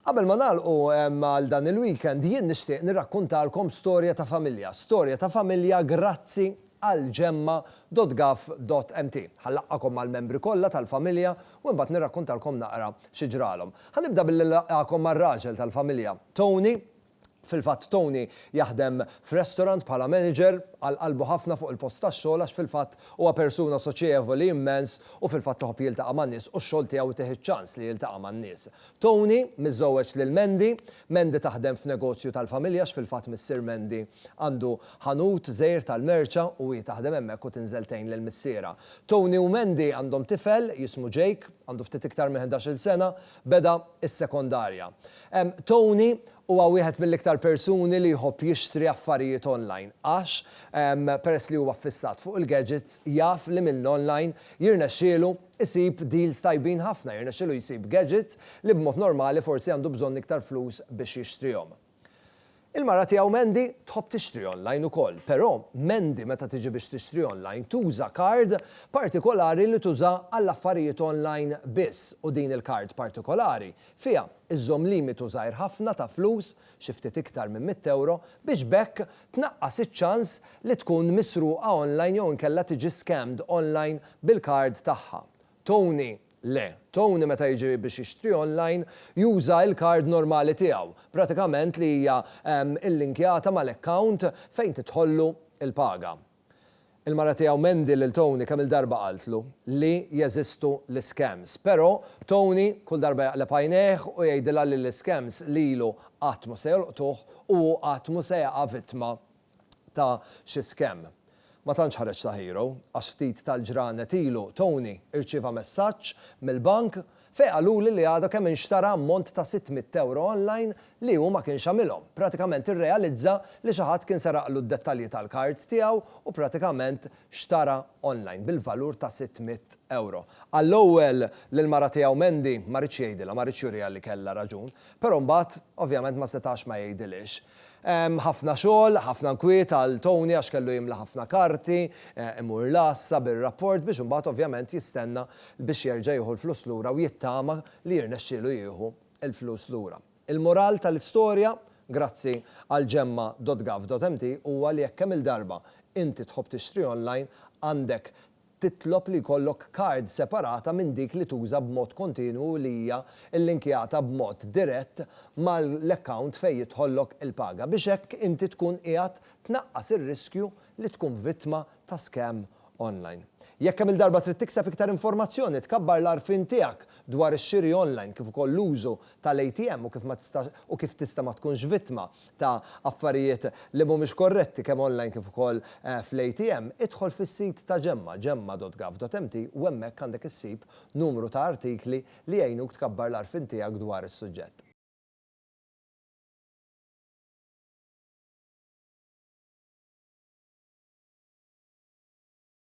Qabel ma nagħlqu għal dan il-weekend, jien nixtieq nirrakkuntalkom storja ta' familja, storja ta' familja grazzi għal gemma.gov.mt. Ħa nlaqqagħkom mal-membri kollha tal-familja u imbagħad nirrakkuntalkom naqra xi ġralhom. Ħa nibda billi nilqagħkom mar-raġel tal-familja, Tony, Fil-fatt Tony jaħdem f'restaurant bħala manager, għal qalbu ħafna fuq il-post tax-xogħol għax fil-fatt huwa persuna soċjevoli immens u fil-fatt iħobb jiltaqa' man-nies u x-xogħol tiegħu itih iċ-ċans li jiltaqa' man-nies. Tony, miżżewweġ lil Mandy. Mandy taħdem f'negozju tal-familja għax fil-fatt missier Mandy għandu ħanut żgħir tal-merċa u hi taħdem hemmhekk u tinżel tgħin lil missierha. Tony u Mandy għandhom tifel jismu Jake, għandu ftit iktar minn ħdax-il sena Beda s-sekondarja. Tony huwa wieħed mill-iktar persuni li jħobb jixtri affarijiet online għax, peress li huwa ffissat fuq il-gadgets, jaf li mill-online jirnexxielu jsib deals tajbin ħafna, jirnexxielu jsib gadgets li b'mod normali forsi għandu bżonn iktar flus biex jixtrihom. Il-mara tiegħu Mandy tħobb tixtri online ukoll, però Mandy meta tiġi biex tixtri online tuża kard partikolari li tuża għall-affarijiet online biss u din il-kard partikolari fiha iżżomm limitu żgħir ħafna ta' flus, xi ftit iktar minn mitt ewro, biex b'hekk tnaqqas iċ-ċans li tkun misruqa online jew inkella tiġi scammed online bil-kard tagħha. Tony, Le. Tony meta jiġi biex jixtri online juża il-card normali tiegħu, pratikament li hija illinkjata mal-account fejn tidħollu il-paga. Il-mara tiegħu Mandy lil Tony kemm-il darba qaltlu li jeżistu l-iscams. Pero, Tony kull darba jaqleb għajnejh u jgħidilha li l-iscams lilu qatt mhu se jolqtuh u hu qatt mhu se jaqa' vittma ta' xi scam. Ma tantx ħareġ ta' hero għax ftit tal-ġranet ilu Tony irċieva messaġġ mill-bank fejn qaluli li għadu kemm inxtara ammont ta' sitt mitt ewro online li hu ma kienx għamilhom. Pratikament irrealizza li xi ħadd kien seraqlu d-dettalji tal-card tiegħu u pratikament xtara online bil-valur ta' sitt mitt ewro. Għall-ewwel lill-mara tiegħu Mandy ma riedx jgħidilha, ma riedx juriha li kellha raġun. Però mbagħad ovvjament ma setax ma jgħidilhiex. Hemm ħafna xogħol, ħafna nkwiet għal Tony għax kellu jimla ħafna karti, imur l-għassa bir-rapport biex imbagħad ovvjament jistenna biex jerġa' jieħu l-flus lura u jittama li jirnexxielu jieħu l-flus lura. Il-mural tal-istorja, grazzi għal Gemma dot Gov dot mt, huwa li jekk kemm-il darba inti tħobb tixtri online, għandek titlob li jkollok kard separata minn dik li tuża b'mod kontinwu u li hija llinkjata b'mod dirett mal-account fejn jidħollok il-paga biex hekk inti tkun qiegħed tnaqqas ir-riskju li tkun vittma ta' scam online. Jekk kemm-il darba trid tikseb iktar informazzjoni, tkabbar l-għarfien tiegħek dwar ix-xiri online kif ukoll l-użu tal-ATM u kif ma tistax u kif tista' ma tkunx vittma ta' affarijiet li mhumiex korretti kemm online kif ukoll fl-ATM, idħol fis-sit ta' Gemma, gemma.gov.mt, u hemmhekk għandek issib numru ta' artikli li jgħinuk tkabbar l-għarfien tiegħek dwar is-suġġett.